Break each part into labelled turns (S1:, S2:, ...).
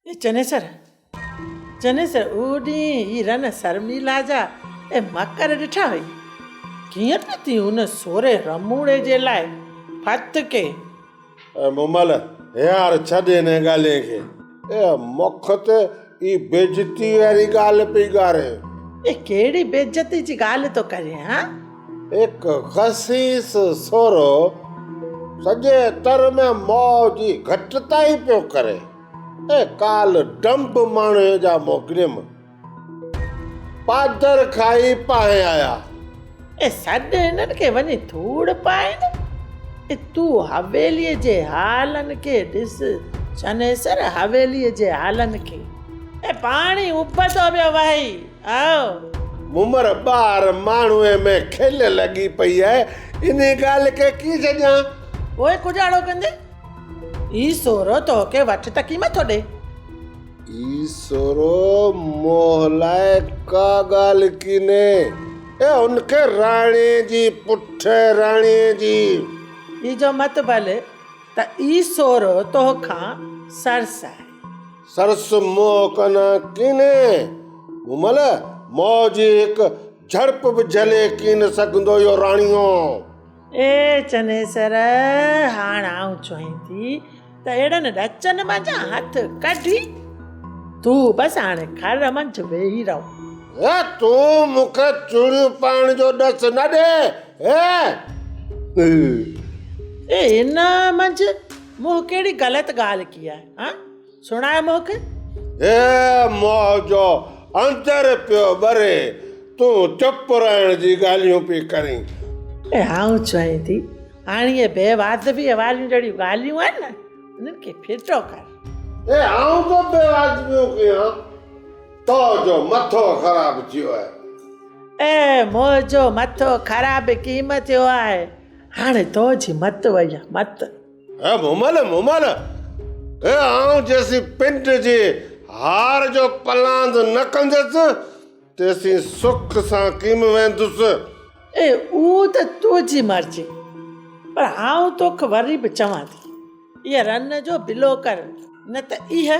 S1: اي چنيسر! چنيسر! اهو ڏينهن هي رن سرميلا جا اي مڪر ڏٺا هئي. ڪيئن ته تين ان سوري رموڙي جي لاء ڦت ڪئي. اي مومل!
S2: هينئر ڇڏ انهيء ڳالهين کي. اي مک تي اي بيعزتيء واري ڳالهه پئي ڳارين. اي ڪهڙي
S1: بيعزتي جي ڳالهه ٿو ڪرين هان؟ هڪ
S2: خسيس سورو سڄي تر ۾ مئو جي گهٽتائي پيو ڪري ۽ ڪال ڊنب ماڻهي جا مڪرم پادر کائي پانهي آيا. اي سڏ
S1: هنن کي وڃي ڌوڙ پائين. اي تون حويليء جي هالن کي ڏس، چنيسر حويليء جي هالن کي. اي پاڻي اڀتو پيو وهي. آء عمر
S2: ٻار ماڻهوء ۾ کل لڳي پئي آهي، انهي ڳالهه کي ڪي سڄان؟ پوء ڪجهاڙو
S1: ڪندي، اي سورو توکي وٺ ته ڪي مٿو ڏي. اي
S2: سورو موهه لاء ڪا ڳالهه ڪينهي، اي هن کي راڻي جي پٺ راڻي جي. اي جو
S1: مت ڀل ته اي سورو توکان سرس آهي. سرس
S2: منهن ڪن ڪيني، مون مهل مئو جي هڪ جهڙپ به جهلي ڪين سگهندو اهو راڻيو. اي
S1: چنيسر! هاڻ آئون چوهين ٿي ته اهڙن ڏچن منجهان هٿ ڪڍي، تون بس هاڻ گهر منجهه ويهي رهو. هي تون
S2: مون کي چوڙيون پائڻ جو ڏس نه ڏي، هي!
S1: اي هن منجهه مون ڪهڙي غلط ڳالهه ڪئي آهي؟ ها سڻاء مونکي. هي مئو جو
S2: اندر پيو ٻري، تون چپ رهڻ جي ڳالهيون پئي ڪرين. ۽ آئون
S1: چوين ٿي، هاڻ اهي بي واجبيء واريون جهڙيون ڳالهيون آهن نه، انهن کي ڦٽو ڪر. هي آئون ڪو
S2: بي واجبيون ڪيان، تو جو مٿو خراب ٿيو آهي. هي مئو جو
S1: مٿو خراب ڪيم ٿيو آهي، هاڻي تو جي مت وئي آهي، مت. اي مومل
S2: مومل اي آئون جيسين پنڊ جي هار جو پلاند نه ڪندس تيسين سک سان ڪيم ويندس. اي اهو
S1: ته تنهنجي مرضي پر آئون توک وري به چوان ٿي اي رن جو بلو ڪر نه ته اهي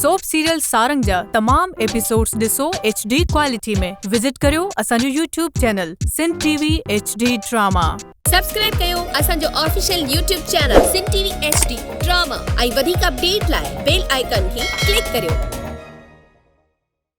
S3: سوپ سيريل سارنگ جا تمام ايپيسوڊز ڏسو ايڇ ڊي ڪوالٽي ۾ وزٽ ڪريو اسان جو YouTube channel Sindh T V H D drama. Subscribe ڪيو
S4: اسان جو official YouTube channel Sindh T V H D drama ۽ وڌيڪ اپڊيٽ لاء بيل آئيڪن کي ڪلڪ ڪريو.